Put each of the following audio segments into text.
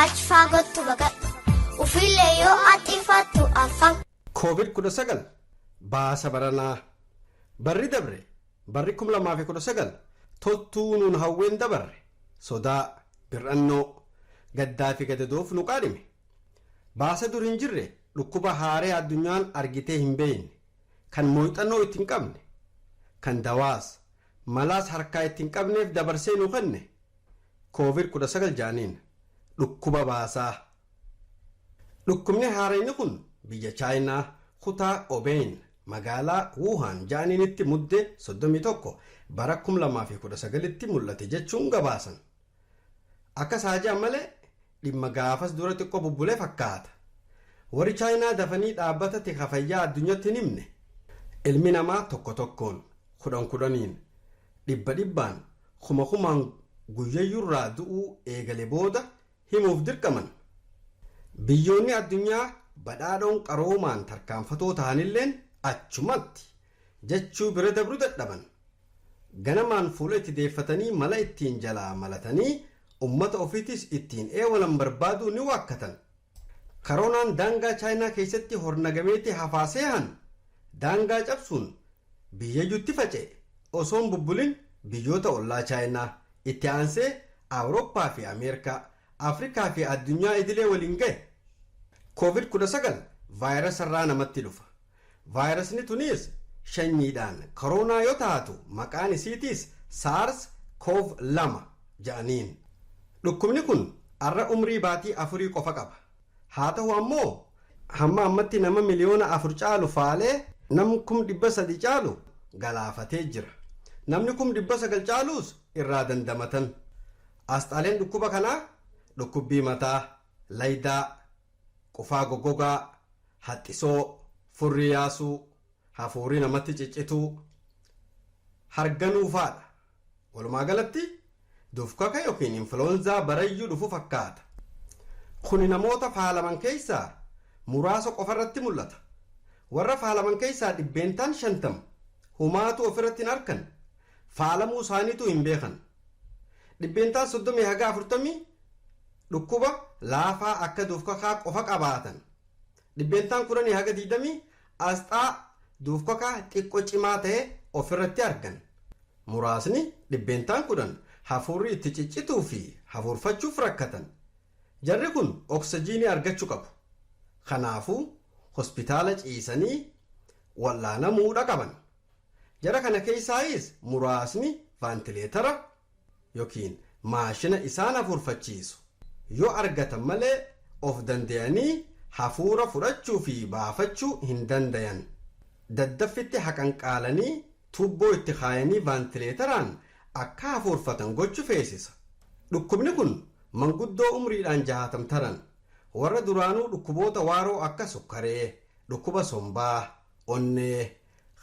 Achi faagottu baqadhu. Ufiillee yoo haxxifattu afaan. Covid 19 baasa baranaa Barri dabre barri 2019 toltuu nuun hawween dabarre sodaa, bir'annoo, gaddaa fi gadadoof nu qaanime. Baasa dur hin jirre dhukkuba haaree addunyaan argitee hin beeyne kan mooyxannoo itti hin qabne kan dawaas Malaas harkaa itti hin qabneef dabarsee nu kenne. Covid 19 ja'aniin. Dhukkuba baasaa. Dhukkubni haarayni kun biyya Chaayinaa, kutaa Obeeyin, magaalaa Wuuhaan ja'aniinitti Mudde 31, bara 2019tti mul'ate jechuun gabaasan. Akkas haa ja'an malee, Dhimma gaafas dura xiqqoo bubbule fakkaata. Warri Chaayinaa dafanii dhaabbata tika fayyaa addunyatti hin himne. Ilmi namaa tokko tokkoon, kudhan kudhaniin, dhibba dhibbaan, kuma kumaan guyyayyurraa du'uu eegale booda himuuf dirqaman. Biyyoonni addunyaa badhaadhoon qaroomaan tarkaanfatoo tahanilleen achumatti jechuu bira dabru dadhaban. Ganamaan fuula itti deeffatanii mala ittiin jalaa malatanii ummata ofiitis ittiin eewalan barbaaduu ni waakkatan. Karoonaan daangaa Chaayinaa keessatti hornagameeti hafaa seehan daangaa cabsuun biyyayyuutti faca'e osoo hin bubbulin biyyoota ollaa Chaayinaa, itti aansee Awurooppaa fi Ameerkaa, Afrikaa fi addunyaa idilee waliin gahe. Covid 19 vaayirasarraa namatti dhufa. Vaayirasni tuniis shanyiidhaan koroonaa yoo taatu maqaan isiitiis Saars Koov 2 ja'aniin. Dhukkubni kun arra umrii baatii afurii qofa qaba. Haa tahu ammoo hamma ammatti nama miliyoona afur caalu faalee nam kum 300 caalu galaafatee jira. Namni kum 900 caaluus irraa dandamatan. Asxaaleen dhukkuba kanaa dhukkubbii mataa, laydaa, Qufaa goggogaa, haxxisoo, furrii yaasuu, hafuurii namatti ciccituu, harganuu faadha. Walumaa galatti dufkaka yookiin influenzaa barayyuu dhufu fakkaata. Kuni namoota faalaman keessaa muraasa qofarratti mul'ata. Warra faalaman keessaa dhibbeentaan 50 humaatuu ofirratti hin arkan, faalamuu isaaniituu hin beekan. Dhibbeentaan 30 haga 40 dhukkuba laafaa akka duufkakaa qofa qabaatan. Dhibbeentaan 10 haga 20 asxaa duufkakaa xiqqo cimaa ta'e ofirratti argan. Muraasni dhibbeentaan 10 hafuurri itti ciccituu fi hafuurfachuuf rakkatan. Jarri kun oksijiinii argachu qabu. Kanaafuu hospitaala ciisanii wal'aanamuudha qaban. Jara kana keessaayis muraasni vaantileetara yookiin maashina isaan hafuurfachiisu yoo argatan malee of dandayanii hafuura fudhachuu fi baafachuu hin dandayan. Daddaffitti haqanqaalanii tuubboo itti kaayanii vaantileetaraan akka hafuurfatan gochu feesisa. Dhukkubni kun manguddoo umriidhaan jahaatam taran, warra duraanuu dhukkuboota waaroo akka sukkaree, dhukkuba sombaa, onnee,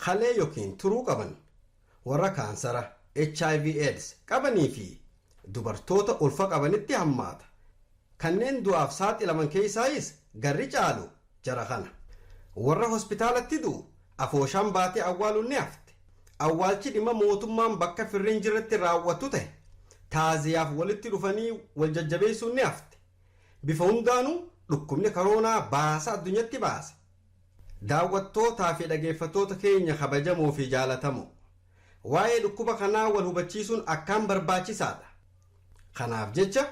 kalee yookiin turuu qaban, warra kaansara, hiv, aids qabanii fi dubartoota ulfa qabanitti hammaata. Kanneen du'aaf saaxilaman keessaayis garri caalu jara kana. Warra hospitaalatti du'u afooshaan baatee awwaaluun ni hafte. Awwaalchi dhimma mootummaan bakka firri hin jirretti raawwatu tahe. Taaziyaaf walitti dhufanii wal jajjabeessuun ni hafte. Bifa hundaanuu dhukkubni karoonaa baasa addunyatti baase. Daawwattootaa fi dhageeffattoota keenya kabajamoo fi jaalatamoo, waa'ee dhukkuba kanaa wal hubachiisuun akkaan barbaachisaa dha. Kanaaf jecha,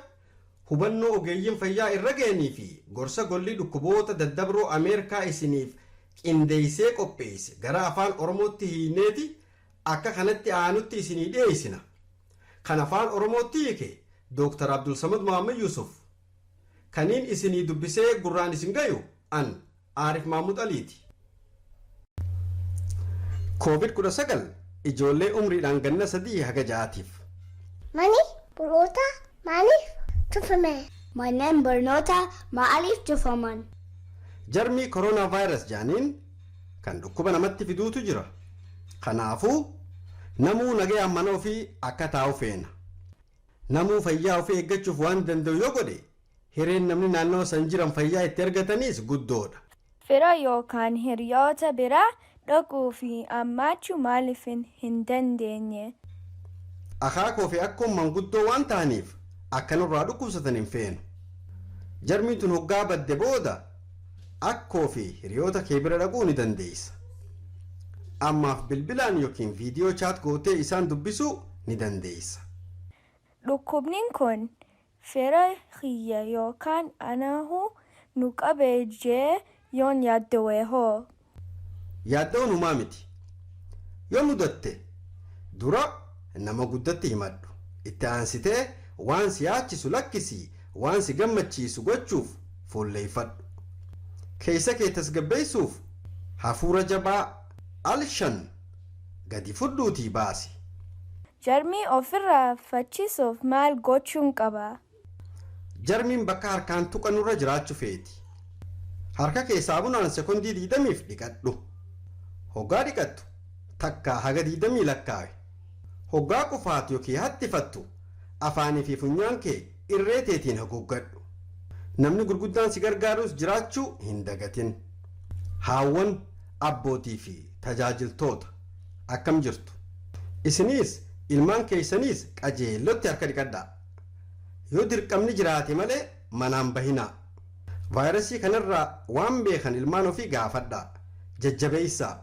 hubannoo ogeeyyiin fayyaa irra ga'anii fi gorsa Golli Dhukkuboota Daddabroo Ameerkaa isiniif qindeessee qopheesse gara Afaan Oromootti hiikneeti akka kanatti aanutti isinii dhiyeessina. Kan Afaan Oromootti hiike Dr. Abdulsamad Mohammed Yusuf. Kaniin isinii dubbisee gurraan isin gayu An Aarif Maamud Aliiti. Covid 19 ijoollee umriidhaan ganna 3 haga 6tiif. Mani barnootaa maaliif cufame? Manneen barnootaa maaliif cufaman? Jarmii coronavirus jedhaniin kan dhukkuba namatti fiduutu jira. Kanaafuu namuu nagayaan mana ofii akka taa'u feena. Namuu fayyaa ofii eeggachuuf waan danda'u yoo godhe Hireen namni naannawa san jiran fayyaa itti argataniis guddoodha. Fira yookaan hiriyoota bira dhaquu fi ammaachuu maaliifin hin dandeenye? Akaakoo fi akkoon manguddoo waan tahaniif akka nurraa dhukkubsatan hin feenu. Jarmiin tun hoggaa badde booda akkoo fi hiriyoota kee bira dhaquu ni dandeessa. Ammaaf bilbilaan yookiin viidiyoo chaat gootee isaan dubbisuu ni dandeessa. Dhukkubnin kun Fira kiyya yookaan anahu nu qabe jee yoon yaaddowe hoo? Yaaddoon humaa miti. Yoo mudatte dura nama guddatti himadhu. Itti aansitee waan si yaachisu lakkisii waan si gammachiisu gochuuf fuulleeffadhu. Keessa kee tasgabbeessuuf hafuura jabaa al shan gadi fudhuutii baasi. Jarmii ofirraa fachiisuuf maal gochuun qaba? Jarmiin bakka harkaan tuqannurra jiraachu feeti. Harka kee saabunaan sekondii 20f dhiqadhu. Hoggaa dhiqattu takkaa haga 20 lakkaawi. Hoggaa qufaatu yookiin hattifattu afaanii fi funyaan kee irree teetiin haguuggadhu. Namni gurguddaan si gargaarus jiraachuu hin dagatin. Haawwan, abbootii fi tajaajiltoota. Akkam jirtu? Isiniis ilmaan keessaniis qajeellotti harka dhiqadhaa. Yoo dirqamni jiraate malee manaa hin bahinaa. Vaayirasii kanarraa waan beekan ilmaan ofii gaafadhaa, jajjabeessaa.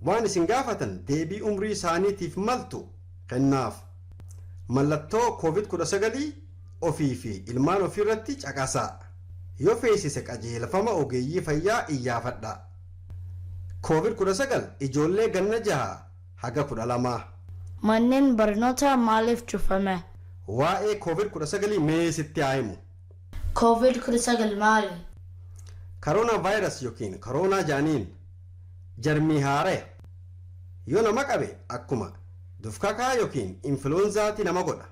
Waan isin gaafatan deebii umrii isaaniitiif maltu kennaaf. Mallattoo Covid 19 ofii fi ilmaan ofiirratti caqasaa. Yoo feesise qajeelfama ogeeyyii fayyaa iyyaafadhaa. Covid 19 ijoollee ganna 6 haga 12. Manneen barnootaa maaliif cufame? Waa'ee Covid 19 mee sitti haa himu. Covid 19 maali? Karoonaa Vaayirasi ykn Koroonaa ja'aniin jarmii haaraya. Yoo nama qabe akkuma dufkakaa ykn influenzaati nama godha.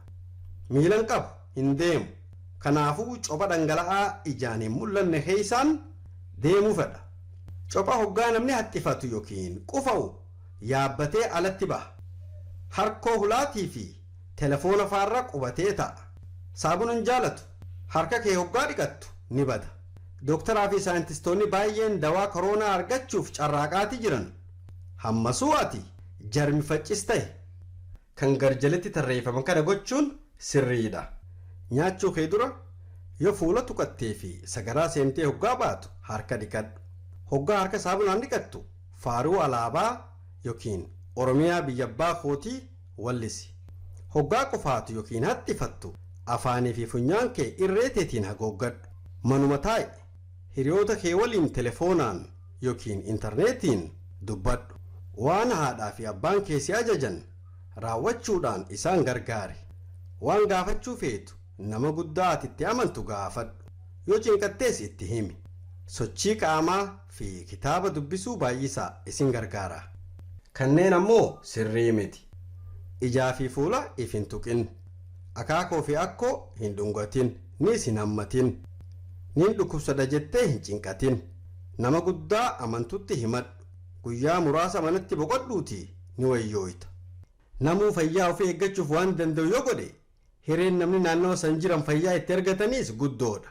Miila hin qabu. hin deemu. Kanaafuu copha dhangala'aa ijaan hin mul'anne keessaan deemuu fedha. Copha hoggaa namni haxxifatu yookiin qufa'u yaabbatee alatti baha. Harkoo hulaatii fi telefoona faarra qubatee taa'a. Saabuna hin jaalatu. Harka kee hoggaa dhiqattu ni bada. Doktaraa fi saayintistoonni baayyeen dawaa koroonaa argachuuf carraaqaati jiran. Hammasuu ati jarmi faccis tahi. kan garjalitti tarreeffaman kana gochuun sirriidha. Nyaachuu kee dura yoo fuula tuqattee fi sagaraa seentee hoggaa baatu harka dhiqadhu. Hoggaa harka saamunaan dhiqattu faaruu alaabaa yokiin Oromiyaa biyya abbaa kootii wallisi. Hoggaa qufaatu yokiin haxxifattu afaanii fi funyaan kee irree teetiin hagooggadhu. Manuma taa'i. Hiriyoota kee waliin telefoonaan yookiin intarneetiin dubbadhu. Waan haadhaa fi abbaan kee si ajajan raawwachuudhaan isaan gargaari. Waan gaafachuu feetu nama guddaa ati itti amantu gaafadhu. Yoo cinqattes itti himi. Sochii qaamaa fi kitaaba dubbisuu baay'isaa isin gargaara. Kanneen ammoo sirrii miti. Ijaa fi fuula if hin tuqin. Akaakoo fi akkoo hin dhungatin, niis hin hammatin. Niin dhukkubsadha jettee hin cinqatin. Nama guddaa amantutti himadhu. Guyyaa muraasa manatti boqodhuutii ni wayyooyta. Namuu fayyaa ofii eeggachuuf waan danda'u yoo godhe, hireen namni naannawa san jiran fayyaa itti argataniis guddoodha.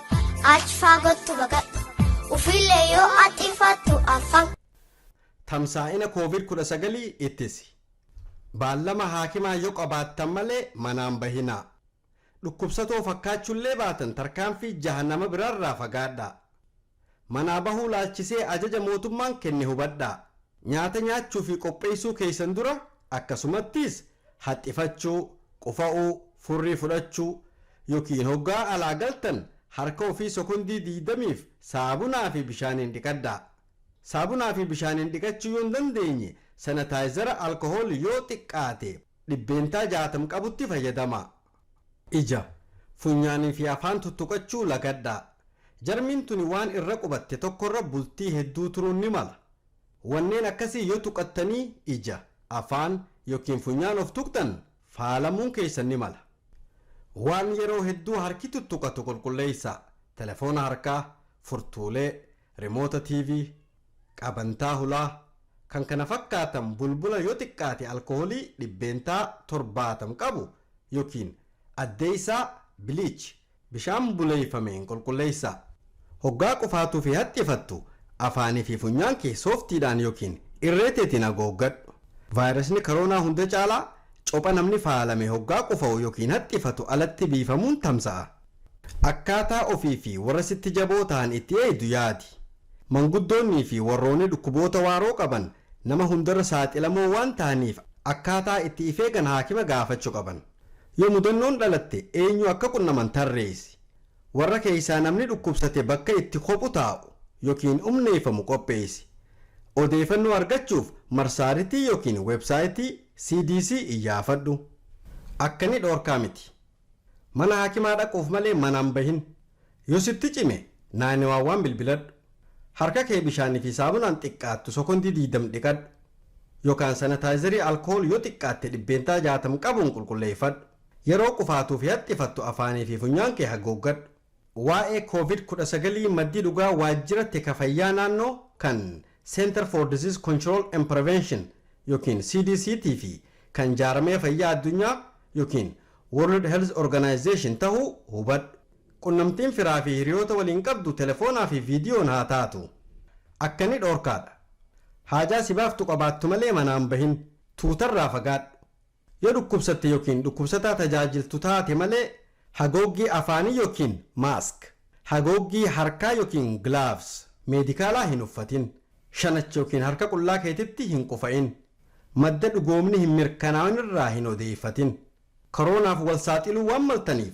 Achi faagottu baqadhu. Ufiillee yoo axxifattu afaan. Tamsaa'ina Kooviid 19 ittisi. Baallama haakimaa yoo qabaattan malee manaan bahinaa. Dhukkubsatoo fakkaachuullee baatan tarkaanfii jaha nama biraarraa fagaadhaa. Manaa bahuu laalchisee ajaja mootummaan kenne hubadhaa. Nyaata nyaachuufi qopheessuu keessan dura akkasumattis haxxifachuu, qufa'uu, furrii fudhachuu, yokiin hoggaa alaa galtan harka ofii sokondii 20f saabunaa fi bishaaniin dhiqadhaa. Saabunaa fi bishaaniin dhiqachuu yoo hin dandeenye sanataayizara alkohool yoo xiqqaate 60% qabutti fayyadamaa. Ija, funyaanii fi afaan tuttuqachuu lagadhaa. Jarmiin tuni waan irra qubatte tokkorra bultii hedduu turuun ni mala. Wanneen akkasii yoo tuqattanii ija, afaan, yookiin funyaan of tuqxan faalamuun keessan ni mala. Waan yeroo hedduu harki tuttuqatu qulqulleessaa, telefoona harkaa, furtuulee, rimoota TV, qabantaa hulaa, kan kana fakkaatan bulbula yoo xiqqaate alkoholii dhibbeentaa torbaatam qabu yookiin addeessaa, bleach, bishaan buleeffameen qulqulleessaa. Hoggaa qufaatuu fi haxxifattu afaanii fi funyaan kee sooftiidhaan yookiin irree teetiin agooggadhu. Vaayirasni karoonaa hunda caalaa copha namni faalame hoggaa qufa'u yookiin haxxifatu alatti biifamuun tamsa'a. Akkaataa ofii fi warra sitti jaboo tahan itti eeydu yaadi. Manguddoonnii fi warroonni dhukkuboota waaroo qaban nama hundarra saaxilamoo waan tahaniif akkaataa itti if eegan haakima gaafachu qaban. Yoo mudannoon dhalatte eenyu akka qunnaman tarreessi. Warra keeysaa namni dhukkubsate bakka itti kophu taa'u yokiin umneeyfamu qopheeysi. Odeeyfannoo argachuuf marsaaritii yokiin website CDC iyyaafadhu. Akkani dhoorkaa miti. Mana haakimaa dhaquuf malee manaa hin bahin. Yoo sitti cime 911 bilbiladhu. Harka kee bishaanii fi saamunaan xiqqaattu sokondii 20 dhiqadhu. Yokaan sanitaayizarii alkool yoo xiqqaatte 60% qabuun qulqulleeffadhu. Yeroo qufaatuu fi haxxifattu afaanii fi funyaan kee haguuggadhu. Waa'ee Covid 19 maddi dhugaa waajjira tika fayyaa naannoo kan Center for Disease Control and Prevention ykn CDC tii fi kan Jaarmaya Fayyaa Addunyaa ykn World Health Organization tahuu hubadhu. Qunnamtiin firaa fi hiriyoota waliin qabdu telefoonaa fi viidiyoon haa taatu. Akka ni dhoorkaa dha. Haajaa si baaftu qabaattu malee manaa hin bahin. Tuuta irraa fagaadhu. Yoo dhukkubsatte yookiin dhukkubsataa tajaajiltu taate malee hagooggii afaanii yookiin mask, hagooggii harkaa yookiin gloves meedikaalaa hin uffatin. Shanacha yookiin harka qullaa keetitti hin qufa'in. Madda dhugoomni hin mirkanaawin irraa hin odeeffatin. Koroonaaf wal saaxiluu waan maltaniif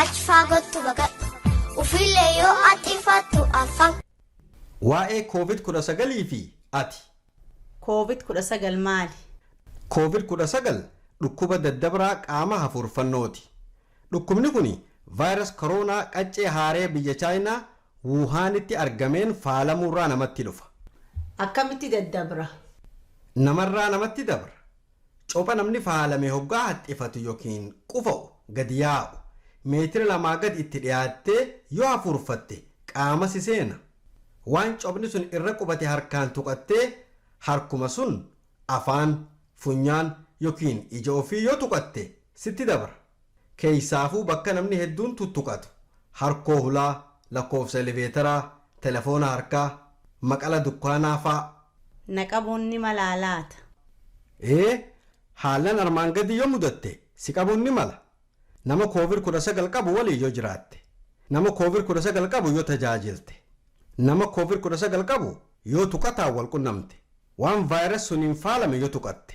Achi faagottu baqadhu. Ufiillee yoo haxxifattu afaan. Waa'ee Covid 19 fi ati. Covid 19 maali? Covid 19 dhukkuba daddabraa qaama hafuurfannooti. Dhukkubni kuni Virus Corona qaccee haaree biyya Chaayinaa Wuhaanitti argameen faalamuurraa namatti dhufa. Akkamitti daddabra? Namarraa namatti dabra. Copha namni faalame hoggaa haxxifatu yookiin qufa'u, gadi yaa'u, meetira lamaa gadi itti dhiyaattee yoo hafuurfatte qaama si seena. Waan cophni sun irra qubate harkaan tuqattee harkuma sun afaan, funyaan yookiin ija ofii yoo tuqatte sitti dabra. Keessaafuu bakka namni hedduun tuttuqatu, harkoo hulaa, lakkoofsa eleveetaraa, telefoona harkaa, maqala dukkaanaa faa. Na qabuun ni malaa laata? Ee, haallan armaan gadii yoo mudatte si qabuun ni mala. Nama Koovid 19 qabu waliin yoo jiraatte. Nama Koovid 19 qabu yoo tajaajilte. Nama Koovid 19 qabu yoo tuqataan wal qunnamte. Waan virus suniin faalame yoo tuqatte.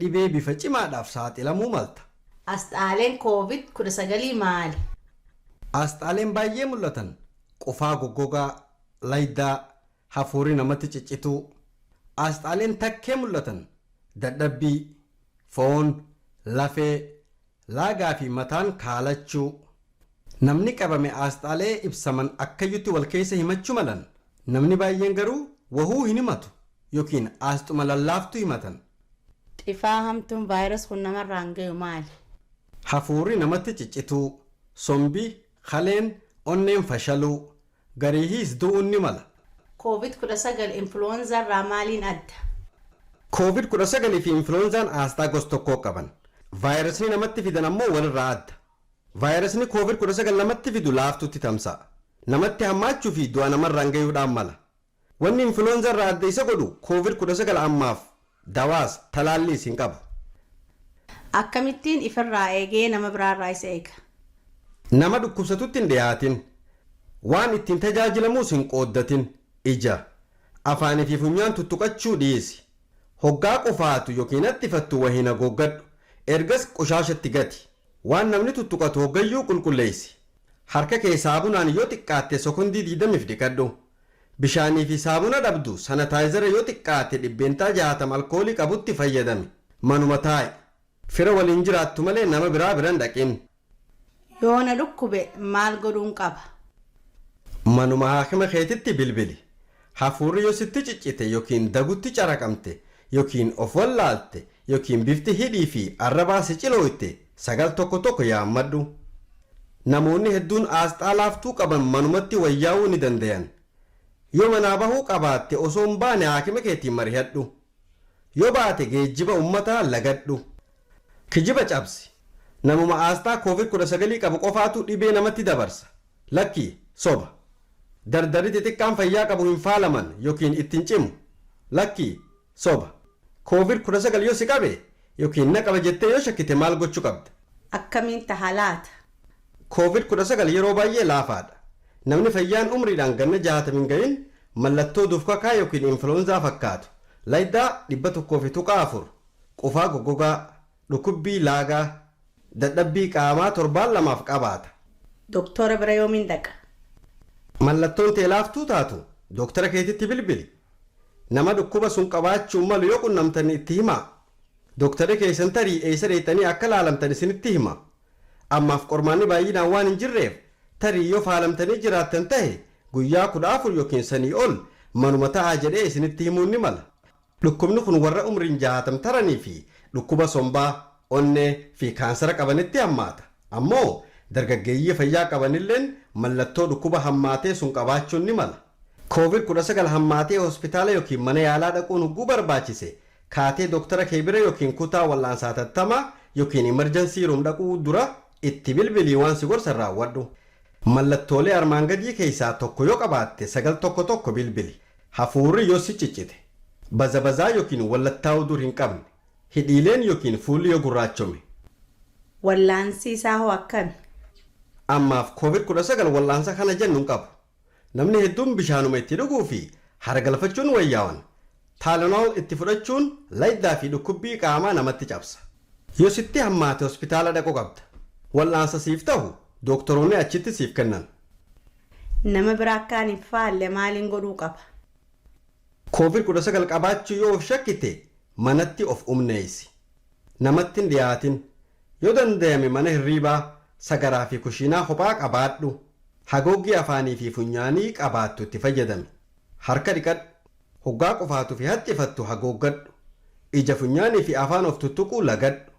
Dhibee bifa cimaadhaaf saaxilamuu malta. Asxaaleen Covid 19 maali? Asxaaleen baay'ee mul'atan qufaa goggogaa, laydaa, hafuurri namatti ciccituu. Asxaaleen takkee mul'atan dadhabbii, foon, lafee, Laagaa fi mataan kaalachuu. Namni qabame aasxaalee ibsaman akkayyutti wal keessa himachuu malan, namni baay'een garuu wahuu hin himatu yookiin aasxuma lallaaftuu himatan. Xifaa hamtuun virus kun namarraan gayu maali? Hafuurri namatti ciccituu. Sombi, kaleen, onneen fashaluu. Gariihis du'uun ni mala. Covid 19 influenza irraa maaliin adda? Covid 19 fi influenzaan aasxaa gos tokkoo qaban. Vaayirasni namatti fidan ammoo walirraa adda. Vaayirasni Covid 19 namatti fidu laaftuutti tamsa'a. Namatti hammaachuu fi du'a namarraan gayuudhaan mala. Wanni influenza irraa adda isa godhu covid 19 ammaaf dawaas, talaalliis hin qabu. Akkamittiin ifirraa eegee nama biraarraa isa eega? Nama dhukkubsatutti hin dhiyaatin. Waan ittiin tajaajilamuus hin qooddatin. Ija, afaanii fi funyaan tuttuqachuu dhiisi. Hoggaa qufaatu ykn haxxifattu wahiin hagooggadhu. Ergas qoshaashatti gati. Waan namni tuttuqatu hoggayyuu qulqulleessi. Harka kee saabunaan yoo xiqqaatte sokondii 20f dhiqadhu. Bishaanii fi saamuna dhabdu, sanataayizara yoo xiqqaate dhibbeentaa 60 alkoolii qabutti fayyadami. Manuma taa'i. Fira waliin jiraattu malee nama biraa bira hin dhaqin. Yoo na dhukkube maal godhuun qaba? Manuma haakima keetitti bilbili. Hafuurri yoo sitti ciccite yookiin dagutti caraqamte yookiin of wallaalte yookiin bifti hidhii fi arrabaa si cilooyte, 9 tokko tokko yaammadhu. Namoonni hedduun aasxaa laaftuu qaban manumatti wayyaa'uu ni dandayan. Yoo manaa bahuu qabaatte osoo hin baane haakima keetiin marihadhu. Yoo baate geejjiba ummataa lagadhu. Kijiba cabsi. Namuma aasxaa covid 19 qabu qofaatu dhibee namatti dabarsa. Lakki, soba. Dardarri xixiqqaan fayyaa qabu hin faalaman yokiin itti hin cimu. Lakki, Soba. Covid 19 yoo si qabe ykn na qaba jettee yoo shakkite maal gochu qabda? Akkamiin taha laata? Covid 19 yeroo baay'ee laafaadha. Namni fayyaan umriidhaan ganna 60 hin gahin mallattoo dufkakaa ykn influenzaa fakkaatu, laydaa 100.4, qufaa goggogaa, dhukubbii laagaa, dadhabbii qaamaa torbaan lamaaf qabaata. Doktora bira yoomiin dhaqa? Mallattoon tee laaftuu taatu, doktara keetitti bilbili. Nama dhukkuba sun qabaachuu malu yoo qunnamtan itti himaa. Doktarri keessan tarii eessa dheexxanii akka laalamtan isinitti hima. Ammaaf qormaanni baay'inaan waan hin jirreef tarii yoo faalamtanii jiraattan tahe guyyaa 14 ykn sanii ol manuma ta'aa jedhee isinitti himuun ni mala. Dhukkubni kun warra umriin 60 taranii fi dhukkuba sombaa, onnee, fi kaansara qabanitti hammaata. Ammoo dargaggeeyyii fayyaa qabanilleen mallattoo dhukkuba hammaatee sun qabaachuun ni mala. Covid 19 hammaatee hospitaala ykn mana yaalaa dhaquun hogguu barbaachise, kaatee doktara kee bira ykn kutaa wal'aansa hatattamaa ykn emergency room dhaquu dura itti bilbilii waan si gorsan raawwadhu. Mallattoolee armaan gadii keessaa tokko yoo qabaatte 911 bilbili. Hafuurri yoo si ciccite. Bazabazaa ykn wallattaa'uu dur hin qabne. Hidhiileen yookiin fuulli yoo gurraachome. Wallaansi isaa hoo akkami? Ammaaf Covid 19 wal'aansa kana jennu hin qabu. Namni hedduun bishaanuma itti dhuguu fi haara galfachuun wayyaawan. Tylenol itti fudhachuun layddaa fi dhukkubbii qaamaa namatti cabsa. Yoo sitti hammaate hospitaala dhaquu qabda. Wal'aansa siif tahu dooktoroonni achitti siif kennan. Nama bira akka ani hin faalle maaliin godhuu qaba? Covid 19 qabaachuu yoo of shakkite manatti of umneessi. Namatti hin dhiyaatin. Yoo dandayame mana hirriibaa, sagaraa fi kushiinaa kophaa qabaadhu. Hagooggii afaanii fi funyaanii qabaattu itti fayyadami. Harka dhiqadhu. Hoggaa qufaatu fi haxxifattu hagooggadhu. Ija funyaanii fi afaan of tuttuquu lagadhu.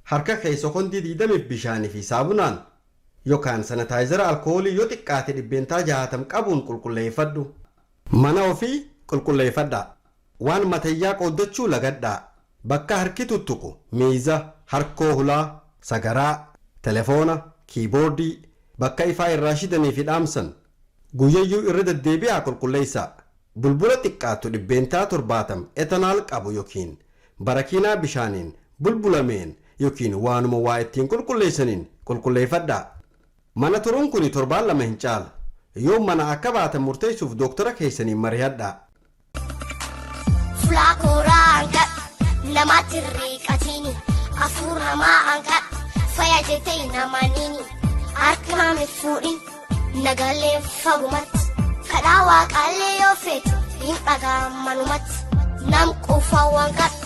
Harka kee sokondii 20f bishaanii fi saabunaan yokaan sanataayizara alkoolii yoo xiqqaate 60% qabuun qulqulleeffadhu. Mana ofii qulqulleeyfadhaa. Waan mateyyaa qooddachuu lagadhaa. Bakka harki tuttuqu, miiza, harkoo hulaa, sagaraa, telefoona, kiiboordii, bakka ifaa irraa shidanii fi dhaamsan guyyayyuu irra deddeebi'aa qulqulleeysaa. Bulbula xiqqaattu 70% ethanal qabu yokiin barakiinaa bishaaniin bulbulameen yokiin waanuma waa ittiin qulqulleeysaniin qulqulleeyfadhaa. Mana turuun kuni torbaan lama hin caalu. Yoom manaa akka baatan murteessuuf dooktara keessaniin marihadhaa. Fulaa kooraa hangadhu namaatti hin riiqatiini. Afuur namaa hangadhu faya jettee hin amaniini. Harka naam hin fuudhin nagallee fagumatti. Kadhaa waaqaallee yoo feetu hin dhagaa manumatti. Nam quufaa waan kadhu.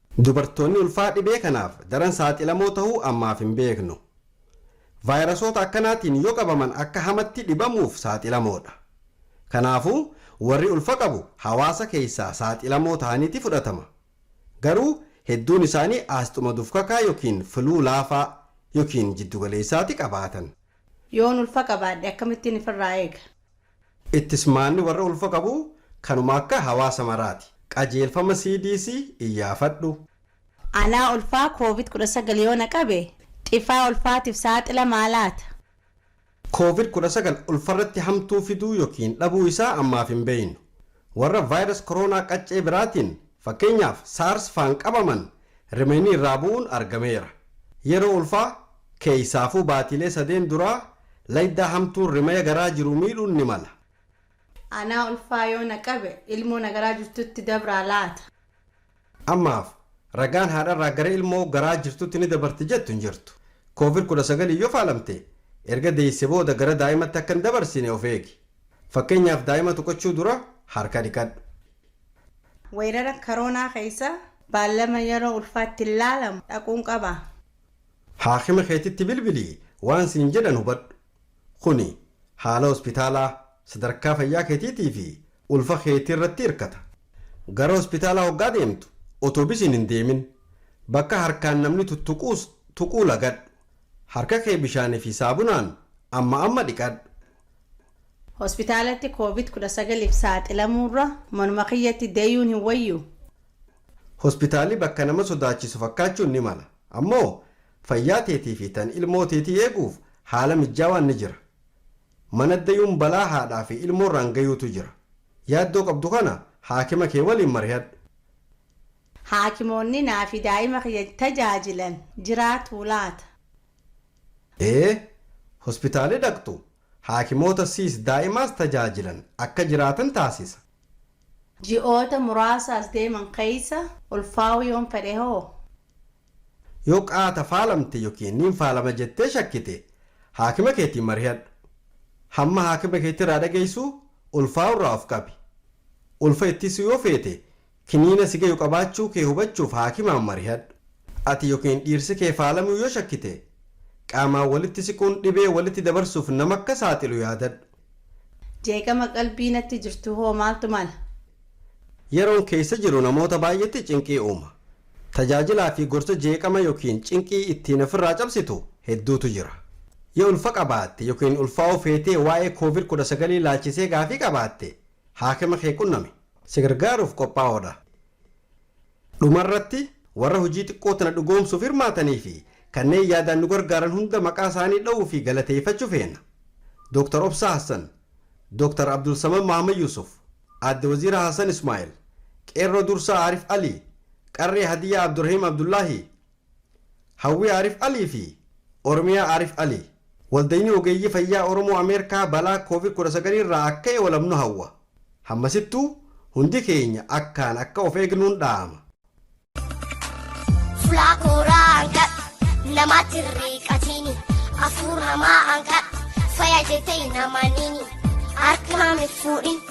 Dubartoonni ulfaa dhibee kanaaf daran saaxilamoo tahuu ammaaf hin beeknu. Vaayirasoota akkanaatiin yoo qabaman akka hamatti dhibamuuf saaxilamoodha. Kanaafuu warri ulfa qabu hawaasa keessaa saaxilamoo tahaniiti fudhatama. Garuu hedduun isaanii aasxuma dufkakaa yookiin fluu laafaa yookiin jiddugaleessaati qabaatan. Yoon ulfa qabaadhe akkamittiin ifirraa eega? Ittis maanni warra ulfa qabu kanuma akka hawaasa maraati. Qajeelfama CDC iyyaafadhu. Anaa ulfaa covid 19 yoo na qabe dhifaa ulfaatiif saaxila maa laata? Covid 19 ulfarratti hamtuu fiduu yokiin dhabuu isaa ammaaf hin beeynu. Warra virus corona qaccee biraatiin, fakkeenyaaf SARS faan qabaman Rimeynii irraa bu'uun argameera. Yeroo ulfaa, keeysaafuu baatiilee sadeen duraa laydaa hamtuun rimaya garaa jiru miidhuun ni mala. Anaa ulfaa yoo na qabe, ilmoo na garaa jirtutti dabraa laata? Ammaaf ragaan haadharraa gara ilmoo garaa jirtutti ni dabarti jettu hin jirtu. Covid 19n yoo faalamte, erga deeyse booda gara daa'imatti akka hin dabarsine of eegi. Fakkeenyaaf daa'ima tuqachuu dura harka dhiqadhu. Weerara karoonaa keessa baallama yeroo ulfaa itti laalamu dhaquun qaba. Haakima keetitti bilbilii waan siin jedhan hubadhu. Kuni haala hospitaalaa, sadarkaa fayyaa keetiitii fi ulfa keetii irratti hirkata. Gara hospitaalaa hoggaa deemtu otobisiin hin deemin. Bakka harkaan namni tuttuquus tuquu lagadhu. Harka kee bishaanii fi saabunaan amma amma dhiqadhu. Hospitaalatti Covid 19f saaxilamuurra manuma kiyyatti deyuun hin wayyuu? Hospitaalli bakka nama sodaachisu fakkaachuun ni mala. Ammoo fayyaa teetii fi tan ilmoo teetii eeguuf haala mijjaawaan ni jira. Mana deyuun balaa haadhaa fi ilmoorraan gayuutu jira. Yaaddoo qabdu kana haakima kee waliin marihadhu. Haakimoonni naa fi daa'ima kiyya tajaajilan jiraatuu laata? ee hospitaali dhaqxu haakimoota siis daa'imaas tajaajilan akka jiraatan taasisa. Ji'oota muraasa as deeman keessa ulfaa'uu yoon fedhe hoo? Yoo qaata faalamte yookiin niin faalama jettee shakkite haakima keetiin marihadhu. Hamma haakima keetti irraa dhageessu ulfaa'uu irraa of qabi. Ulfa ittisuu yoo feete Kiniina si gayu qabaachuu kee hubachuuf haakimaan marihadhu. Ati ykn dhiirsi kee faalamuu yoo shakkite, qaamaan walitti siquun dhibee walitti dabarsuuf nama akka saaxilu yaadadhu. Jeeqama qalbii natti jirtu hoo maaltu mala? Yeroon keessa jiru namoota baay'eetti cinqii uuma. Tajaajilaa fi gorsa jeeqama ykn cinqii ittiin ofirraa cabsitu hedduutu jira. Yoo ulfa qabaatte ykn ulfaa'uu feetee waa'ee Covid 19 ilaalchisee gaafii qabaatte, haakima kee qunnami. Si gargaaruuf qophaa'oo dha. Dhuma irratti, warra hojii xiqqoo tana dhugoomsuuf hirmaatanii fi kanneen yaadaan nu gargaaran hunda maqaa isaanii dha'uu fi galateeffachu feena. Dr. Obsaa Hassan, Dr. Abdulsamad Mohammed Yusuf, Aadde Waziira Hassan Ismaa'il, Qeerroo Dursaa Aarif Alii, Qarree Hadiyyaa Abdurahim Abdullahi, Hawwii Aarif Alii fi Oromiyaa Aarif Alii. Waldayni Ogeeyyii Fayyaa Oromoo Ameerkaa balaa Covid 19 irraa akka eolamnu hawwa. Hammasittuu hundi keenya akkaan akka of eegnuun dhaama. Fulaa kooraa hangadhu namaatti hin riiqatiini afuur hamaa hangadhu faya jetee hin amaniini harka naam hin fuudhin.